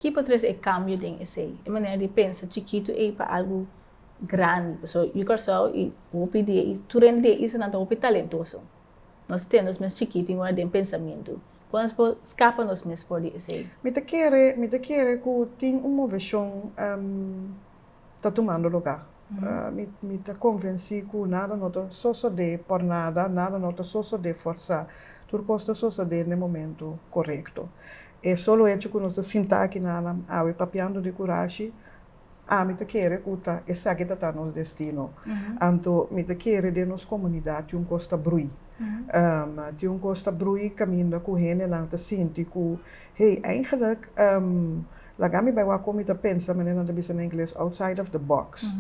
Ki por trese e kambio den esei? E manera di pensa chikitu ei pa algu grandi. Pasobra yu Kòrsou i hopi di e is, tur hende di e islanan ta hopi talentoso. Nos ta tene nos mes chikitu in ora den pensamentu. Kon nos por skapa nos mes for di esei? Mi ta kere, mi ta kere ku tin un moveshon. ta tumando lugá. Mi mi ta konvensí ku nada no ta sosodé por nada, nada no ta sosodé forsá. Tur kos ta sosodé na e momentu korekto. E solo echo ku nos ta sintá aki nannan awe papiando di kurashi, ami ta kere ku ta esaki ta ta nos destino. Anto mi ta kere den nos komunidat tin un kos ta brui. tin un kos ta brui kaminda ku hendenan ta sinti ku. Hey, eigenlik laga mi bai wak omi ta pensa, manera nan ta bisa na ingles, outside of the box.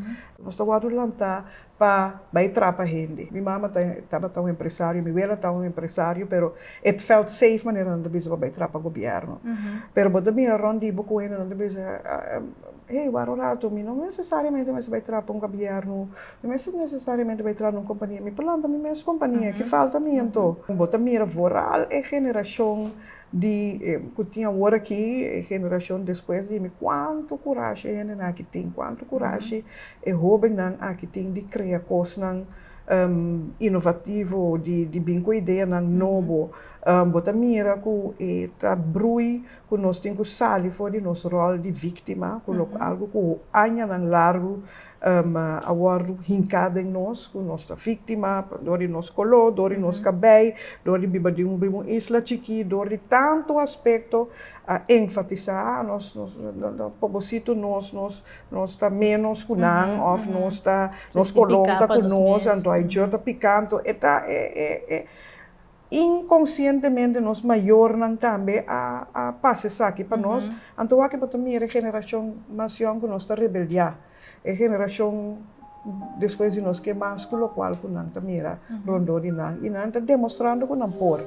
Nos ta wòrdu lantá pa bai trapa hende. Mi mama ta, tabata un empresario, mi wela ta un empresario, pero it felt safe manera nan ta bisa pa bai trapa gobièrnu. Pero bo ta mira rònt di bo ku hende nan ta bisa, hey, wòrdu un ratu, mi no nesesariamente mester bai trapa un gobièrnu, mi mester nesesariamente bai trapa na un kompania, mi por lanta mi mes kompania, ki falta mi anto? Bo ta mira voral e generashon Di ku tin awor aki, e generashon despues di mi, kuantu kurashi e hendenan aki tin, kuantu kurashi e hobennan aki tin di krea kosnan inovativo, di bin ku ideanan nobo. Bo ta mira ku e ta brui ku nos tin ku sali for di nos ròl di víktima, ku lo algu ku añanan largu ma a wòrdu hinká den nos, ku nos ta víktima pa dor di nos koló, dor di nos kabei, dor di biba di riba un isla chikí, dor di tantu aspekto, a enfatisá, a nos pobositu nos, nos nos ta ménos ku nan òf nos ta nos kolon ta ku nos, anto a e djor ta piká, anto e ta e Inkonsientemente nos mayornan tambe a a pasa esaki pa nos, anto wak e por ta mira e generashon mas yòn ku nos ta rebeldiá, e generashon despues di nos ke mas ku lokual ku nan ta mira rondó di nan i nan ta demostrando ku nan por.